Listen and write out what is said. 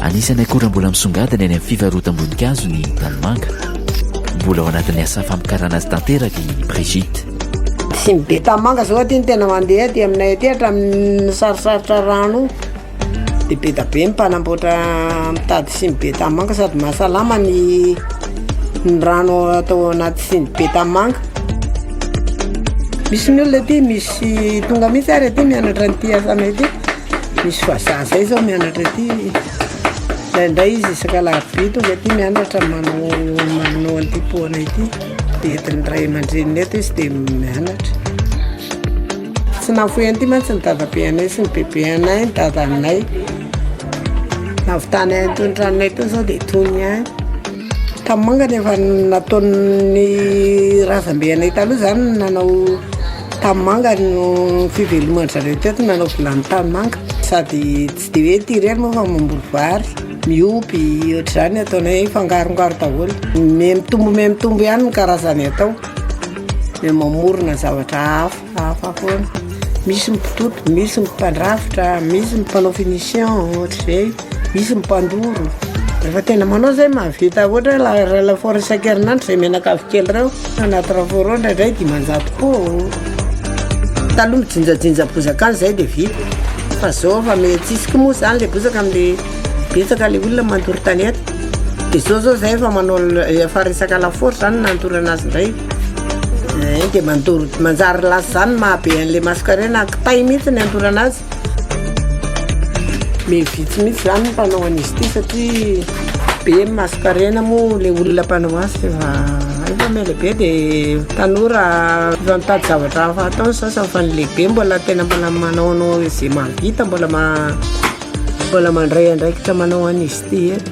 Anisan'ny akora mbola misongadina eny amin'ny fivarotam-boninkazo ny tanimanga. Mbola ao anatin'ny asa famokarana azy tanteraka i Brigitte. Tsy ny be tanimanga izao aty no tena mandeha aty aminay aty hatramin'ny sarisarotra rano io. Dia bedabe ny mpanamboatra mitady siny be tanimanga sady mahasalama ny ny rano atao anaty siny be tanimanga. Misy ny olona aty misy tonga mihitsy ary aty mianatra an'ity asanay ity. Misy vazaha izay izao mianatra aty. Indraindray izy isaka alarobia tonga aty mianatra manao manao an'ity pot anay ity. Dia entin'ny ray aman-dreniny eto izy dia mianatra. Tsy navoy an'ity mantsy ny dadabe anay sy ny bebe anay, ny dadanay. Navitany ahy itony tranonay itony sao dia tony ihany. Tamanga no efa nataon'ny razambe anay taloha izany no nanao tanimanga no fiveloman-dry zareo teto no nanao vilany tanimanga. Sady tsy dia hoe ity irery moa fa mamboly vary, miompy, ohatr'izany no ataonay, mifangarongaro daholo. Miha-mitombo miha-mitombo ihany ny karazany atao. dia mamorona zavatra hafa hafa foana misy ny mpitoto misy ny mpandrafitra misy ny mpanao finition ohatr'izay misy ny mpandoro rehefa tena manao zay mahavita ohatra la- laforo isan-kerinandro izay menakavy kely ireo anaty laforo ao indraindray dimanjato koa taloha ny jinjajinja bozaka any izay dia vita fa zao efa me- tsisy koa moa izany le bozaka amin'le betsaka le olona mandoro tanety de zao zao zay efa manao efa resaka lafaoro zany nandorana azy ndray eh, de mandoro manjary lasa zany mahabe an'le mascarena kitay mihitsy ny andorana azy me vitsy mihitsy zany mpanao an'izy ty satria be mascarena moa le olona mpanao azy fa efa mele be de tanora efa mitady zavatra hafa atao ny sasany fa ny lehibe mbola tena mbola manaonao izay mahavita mbola ma Mbola mandray andraikitra manao an'izy ity eto.